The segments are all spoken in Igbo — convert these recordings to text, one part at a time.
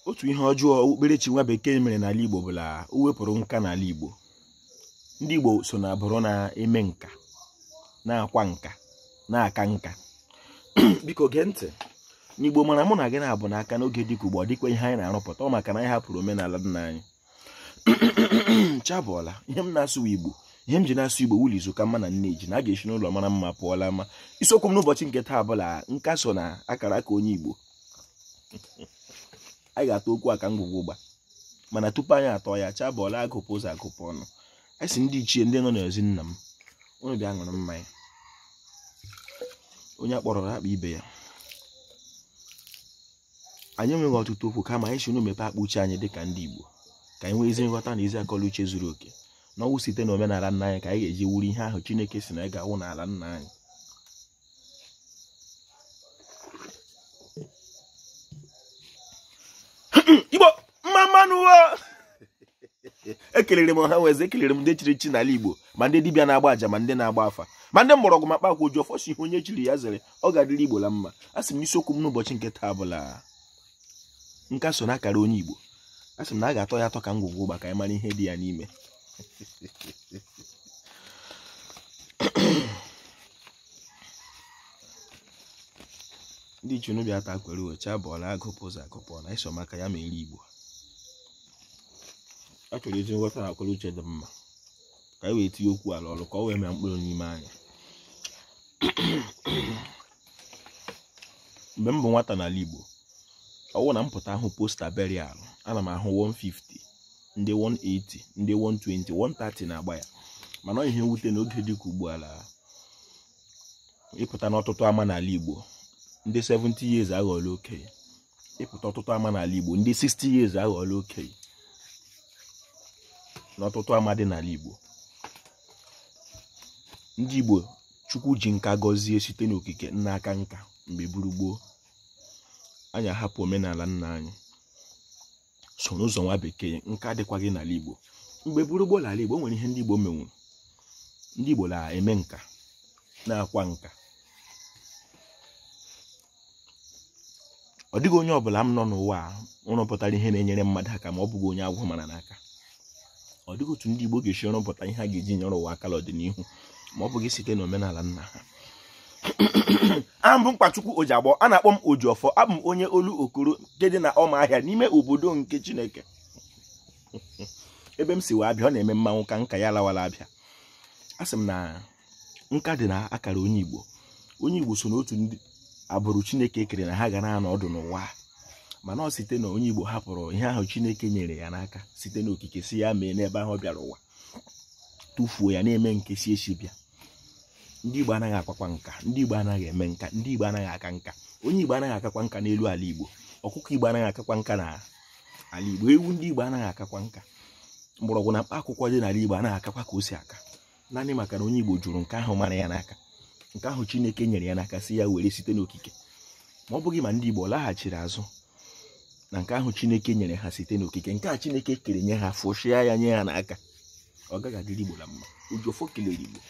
otu ihe ọjọọ okpukperechi nwa bekee mere n'ala Igbo bụ na o wepụrụ nka n'ala Igbo ndị Igbo so na agbụrụ na-eme nka na-akwa nka na-aka nka biko gee ntị n'Igbo mara mụ na gị na-abụ n'aka n'oge dịka ugbu a ọ dịkwa ihe anyị na-arụpụta ọ maka na anyị hapụrụ omenala nna anyị chi abọọla ihe m na-asụ Igbo ihe m ji na-asụ Igbo wụ la izu ka mma na nne ji na a ga-esi n'ụlọ mara mma pụọ la ama isiokwu m n'ụbọchị nke taa bụ la nka so na akara aka onye Igbo anyị ga-atọ okwu a ka ngwugwu ụgba mana tupu anyị atọ ya chi abọọla agụpụ ụzọ agụpụ ọnụ anyị sị ndị ichie ndị nọ n'ezi nna m unu bịa ṅụrụ mmanya onye a kpọrọ akpọọ ibe ya anyị enweghị ọtụtụ okwu kama anyị sị unu mepe akpa uche anyị dịka ndị Igbo ka anyị nwee ezi nghọta na ezi akọ la uche zuru oke na ọ wụ site na omenala nna anyị ka anyị ga-eji wụrụ ihe ahụ Chineke sị na anyị ga-awụ n'ala nna anyị igbo mma mma nụ ekelere m ọha na eze ekelere m ndị chiri echi n'ala igbo ma ndị dibịa na-agba aja ma ndị na-agba afa ma ndị mgbọrọgwụ ma kpakwa oji ọfọ sị ihe onye chiri ya zere ọ ga-adịrị igbo la mma a sị m n'isiokwu m n'ụbọchị nke taa bụ la nka so na akara onye Igbo a sị m na a ga-atọ ya atọ ka ngwugwu ụgba ka anyị mara ihe dị ya n'ime ndị ichie unu bịa taa kwere uwe chi abọọla agụpụ ụzọ agụpụ ọnụ anyị sị ọ maka ya mere Igbo a chọrọ ezi nghọta na akwara uche dị mma ka anyị wee tinye okwu a la ọrụ ka ọ wee mịa mkpụrụ n'ime anyị mgbe m bụ nwata n'ala Igbo ọ wụ na m pụta ahụ poster burial ana m ahụ 150 ndị 180 ndị 120 130 na-agba ya mana ihe mwute na oge dịka ugbu a la ị pụta n'ọtụtụ ama n'ala Igbo ndị 70 years aghọọla okenye ị pụta ọtụtụ ama n'ala Igbo ndị 60 years aghọọla okenye n'ọtụtụ ama dị n'ala Igbo ndị Igbo Chukwu ji nka gọzie site n'okike na-aka nka mgbe bụrụ gboo anyị ahapụ omenala nna anyị soro ụzọ nwa bekee nka adịkwaghị n'ala Igbo mgbe bụrụ gboo n'ala Igbo nwere ihe ndị Igbo menwuru ndị Igbo na-eme nka na-akwa nka ọ dịghị onye ọbụla m nọ n'ụwa a rụpụtara ihe na-enyere mmadụ aka ma ọ bụghị onye agwụ mara n'aka ọ dịghị otu ndị Igbo ga-esi rụpụta ihe a ga-eji nyere ụwa aka n'ọdịnihu ma ọ bụghị site n'omenala nna ha aha m bụ mkpachukwu ojiagbọ a na-akpọ m ojiọfọ abụ m onye Olokoro nke dị na ọma ahịa n'ime obodo nke chineke ebe m si wụ Abịa ọ na-eme mmanwụ ka nka ya lawa la Abịa a sị m na nka dị na akara onye igbo onye igbo so n'otu ndị agbụrụ chineke kere na ha ga na-anọ ọdụ n'ụwa mana ọ site na onye igbo hapụrụ ihe ahụ chineke nyere ya n'aka site n'okike sị ya mee n'ebe ahụ ọ bịara ụwa tụfuo ya na-eme nke si ezi bịa ndị igbo anaghị akwakwa nka ndị igbo anaghị eme nka ndị igbo anaghị aka nka onye igbo anaghị akakwa nka n'elu ala igbo ọkụkọ igbo anaghị akakwa nka na ala igbo ewu ndị igbo anaghị akakwa nka mgbọrọgwụ na mkpa akwụkwọ dị n'ala igbo anaghị akakwa ka o si aka naanị maka na onye Igbo jụrụ nke ahụ mara ya n'aka nke ahụ Chineke nyere ya n'aka sị ya were site n'okike ma ọ bụghị ma ndị Igbo laghachiri azụ na nke ahụ Chineke nyere ha site n'okike nke a Chineke kere nye ha fụchịa ya nye ha n'aka ọ gaghị adịrị Igbo la mma Ojiọfọ kelere Igbo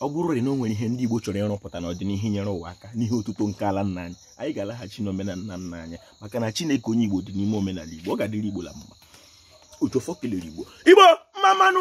ọ bụrụ na o nwere ihe ndị Igbo chọrọ ịrụpụta n'ọdịnihu nyere ụwa aka n'ihe otuto nke ala nna anyị anyị ga-alaghachi n'omenala nna anyị maka na Chineke onye Igbo dị n'ime omenala Igbo ọ ga-adịrị Igbo la mma ojiọfọ kelere igbo igbo mma mma nụ